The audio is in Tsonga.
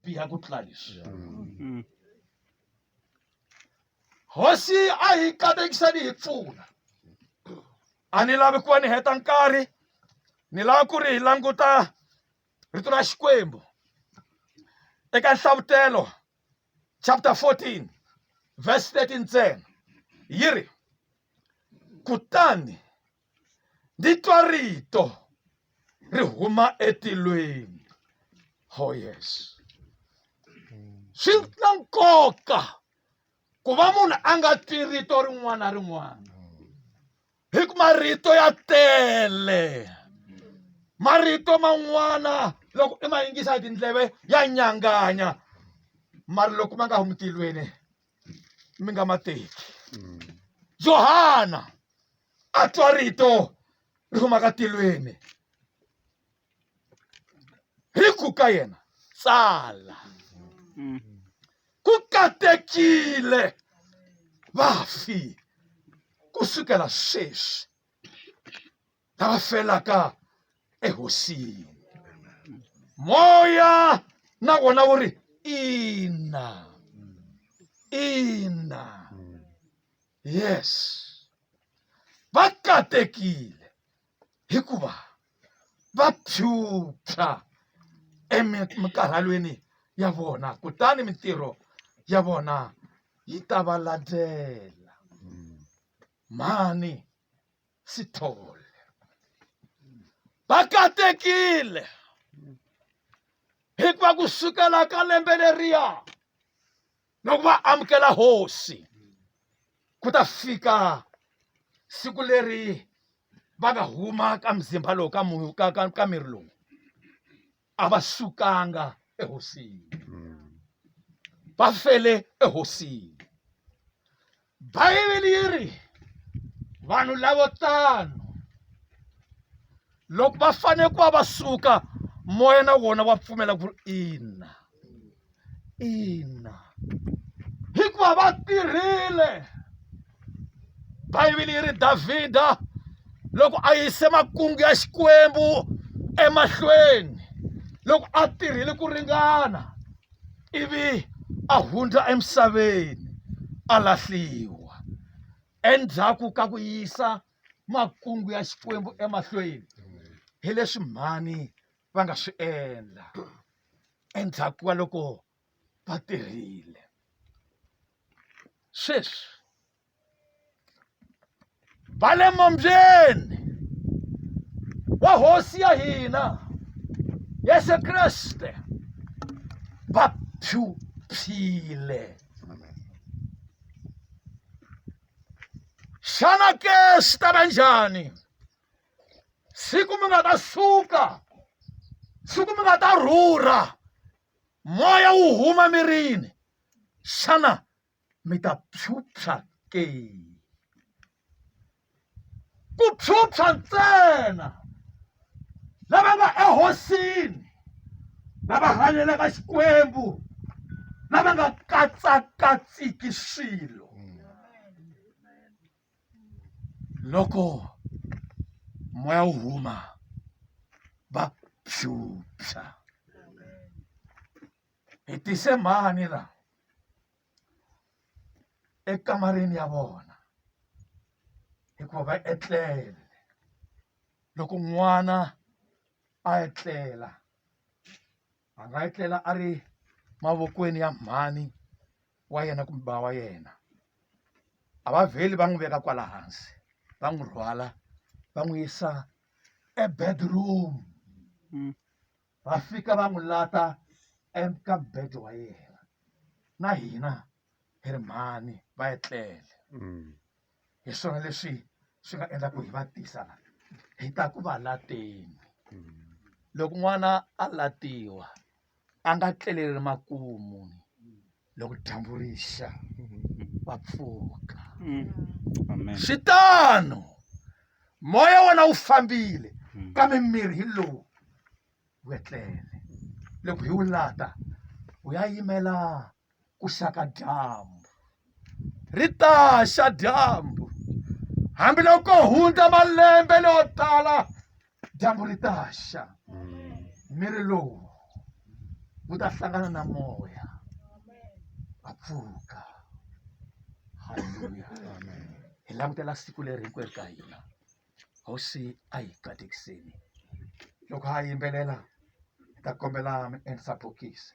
biha ku tlula leswi mm. hosi a hi katekisa ni hi pfuna a ni lavi ku va ni heta nkarhi ni lava ku ri hi languta rito ra xikwembu eka nhlavutelo chapter 14 verse 13 ntsena yi ri kutani ndzi twa rito ri huma etilweni oh yes swi na nkoka ku va munhu a nga twi rito rin'wana na rin'wana hi ku marito ya tele marito man'wana loko i ma yingisa hi tindleve ya nyanganya mara loko ma nga humi tilweni mi nga ma teki johana a twa rito ri huma ka tilweni ri ku ka yena tsala ku katekile vafi ku sukela sweswi ta va felaka ehosini moya na wona wu ri ina ina yes va katekile hikuva va phyuphya emikarhalweni ya vona kutani mintirho ya vona yi ta va landzela mhani sithole va katekile hikuva ku sukela ka lembe leriya loko va amukela hosi ku ta fika siku leri va nga huma ka mzimba lowu ka ka ka ka miri lowu a va sukanga ehosini va fele ehosini bayibele yi ri vanhu lavo tano loko va fanele ku va va suka moya na wona wa pfumela ku ri ina ina hikuva va tirhile bibele yi ri davhida loko a yise makungu ya xikwembu emahlweni loko a tirhile ku ringana ivi a hundza emisaveni a lahliwa endzhaku ka ku yisa makungu ya xikwembu emahlweni hi leswi mhani va nga swi endla endzhaku ka loko va tirhile sweswi va le mombyeni wa hosi ya hina yesu kreste va phyuphyile xana ke swi ta va njhani siku mi nga ta suka siku mi nga ta rhurha moya wu huma mirini xana mi ta phyuphya ke ku phyuphya ntsena lava nga ehosini lava hanyelaka xikwembu lava nga katsakatsiki swilo loko moya wu huma va phyuphya hi tise mhani la ekamareni ya vona hikuva va etlele loko n'wana a etlela a nga etlela a ri mavokweni ya mhani wa yena kumbe ba wa yena a va vheli va n'wi veka kwala hansi va n'wi rhwala va n'wi yisa ebedroom mm. va fika va n'wi lata eka bed wa yena na hina hi ri mhani va etlele mm. hi swona leswi swi nga endla ku hi va tisa la hi ta ku va lateni loko n'wana a latiwa a nga tleleli makumu loko dyambu rixa va pfuka mm. swi tano moya wona wu fambile mm. kambe miri hi lowu wetlele loko hi wu lata wu ya yimela ku xa ka dyambu ri ta xa dyambu hambiloko hundza malembe leyo tala dyambu ri ta xa miri lowu wu ta hlangana na moya va pfuka halleluya hi langutela siku leri hinkwerhu ka hina hosi a hi katekiseni loko ha yimbelela hi ta kombela mi endlisa bokisi